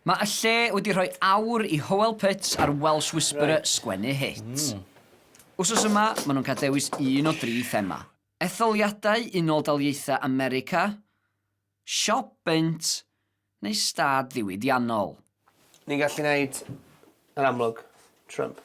Mae y lle wedi rhoi awr i Howell Putts a'r Welsh Whisperer sgwennu hit. Wsos yma, maen nhw'n cael dewis un o dri thema, Etholiadau Unol Daliaethau America, Siop Bunt neu Stad Ddiwydiannol. Ni'n gallu neud yr amlwg, Trump.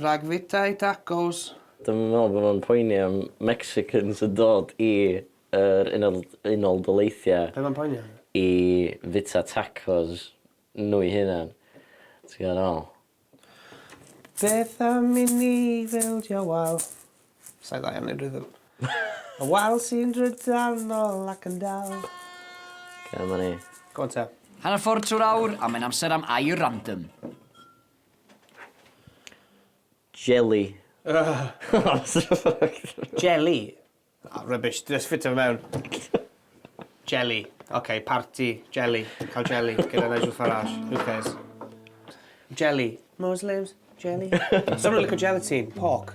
Rhag fwyta i tacos. Dwi'm yn meddwl bod nhw'n poeni am Mexicans yn dod i yr Unol Unol Daleithiau... Be' ma'n poeni am? ...i fwyta tacos nhw'i hunan. Ti'n gwbod be' dwi feddwl? Beth am i ni fildio wal? Sa i dda iawn i rhythm. Y wal sy'n drydanol ac yn dal. Oce 'ma ni. Go on te. Hanner ffordd trwy'r awr a mae'n amser am Air Random. Jelly. Jelly? O, rubbish. Dwi jyst ffitio fe mewn. Jelly. Ok, parti. Jelly. Cael jelly gyda Nigel Farage. Who cares? Jelly. Muslims. Jelly. Someone lico gelatine. Pork.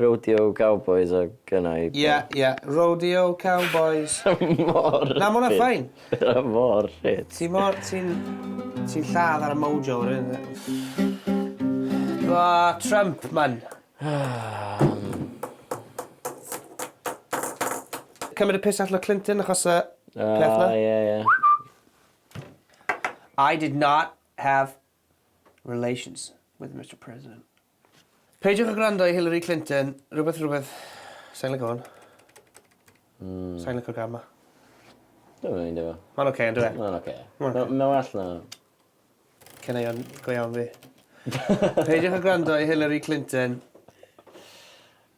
Rodeo Cowboys oedd gynna i. Ie, ie, Rodeo Cowboys. Mor ffit. Na, ma' wnna fine. Mae o mor ffit. Ti mor... ti'n... ti'n lladd ar y mojo ar hyn o bryd. O, Trump, man. Cymryd y piss allan o Clinton achos y peth 'na. O, ie, ie. I did not have relations with Mister President. Peidiwch a gwrando i Hillary Clinton. Rhywbeth rhywbeth. Sai'n lico hwn. Hmm. Sai'n licio'r gân ma. Dwi'n meindio fo. Mae'n oce, yn dweud? Mae'n oce. Mae'n well na... Caneuon go iawn fi. Peidiwch a gwrando i Hillary Clinton.